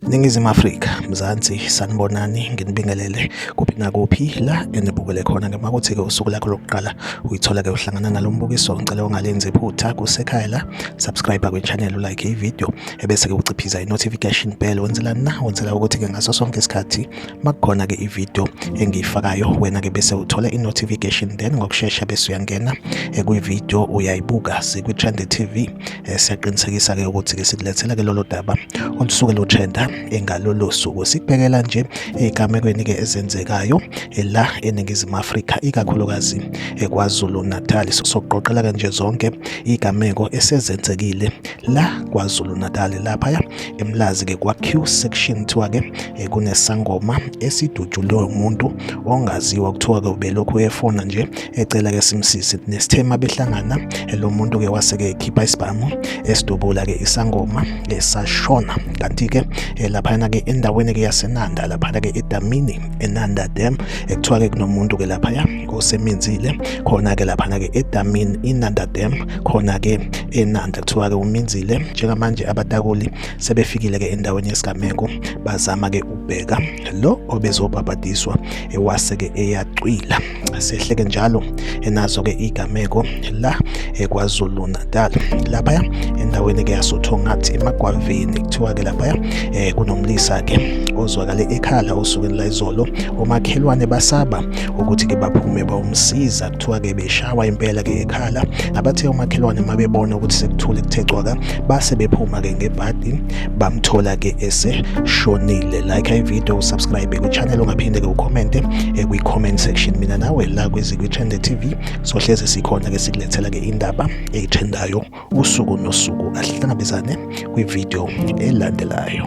Ningizimu Afrika Mzansi sanibonani nginibingelele kuphi nakuphi la enibukele khona ngema kuthi ke usuku lakho lokuqala uyithola ke uhlangana nalombukiso ngicela ungalenzi iphutha kusekhaya la subscribe kwi channel like i video ebese ke uciphiza i notification bell wenzelani na wenzela ukuthi ke ngaso sonke isikhathi makukhona ke ivideo engiyifakayo wena ke bese uthola i-notification then ngokushesha bese uyangena eh, kwivideo uyayibuka sikwi-trend tv eh, siyaqinisekisa ke ukuthi ke sikulethela ke lolo daba olusuke lutrenda engalolo suku sikubhekela nje ey'gamekweni ke ezenzekayo eh, la eningizimu afrika ikakhulukazi ekwazulu natal sokuqoqela ke nje zonke iy'gameko esezenzekile la kwazulu natali laphaya emlazi-ke kwa-q section kuthiwa-ke eh, kunesangoma esidutshulwe umuntu ongaziwa kuthiwa-ke ubelokhu efona nje ecela-ke simsisi nesithema behlangana eh, lo muntu-ke wase-ke ekhipha isibhamu esidubula-ke eh, isangoma esashona kanti-ke laphayana-ke endaweni-ke yasenanda laphana-ke edamini enanda dam ekuthiwa-ke kunomuntu-ke laphaya koseminzile khona-ke laphana-ke edamini inanda dam khona-ke enanda kuthiwa-ke uminzile njengamanje abatakuli sebefikile-ke endaweni yesigameko bazama-ke ukubheka lo obezobhabhadiswa ewase-ke eyacwila sehleke njalo enazo-ke igameko la ekwazulu natal laphaya endaweni-ke yasothongathi emagwavini kuthiwa-ke laphaya um eh, kunomlisa-ke ozwakale ekhala osukwini layizolo omakhelwane basaba ukuthi ke baphume bawumsiza kuthiwa ke beshawa impela ke ekhala abathe umakhelwane uma bebona ukuthi sekuthule kuthe cwaka base bephuma ke ngebhadi bamthola ke eseshonile like i video usubscribe kwichannel ungaphinde ke ucommente eh, kwi-comment section mina nawe la kwezikwi-trende tv sohleze sikhona ke sikulethela ke indaba eyitrendayo usuku nosuku asihlangabezane kwividiyo elandelayo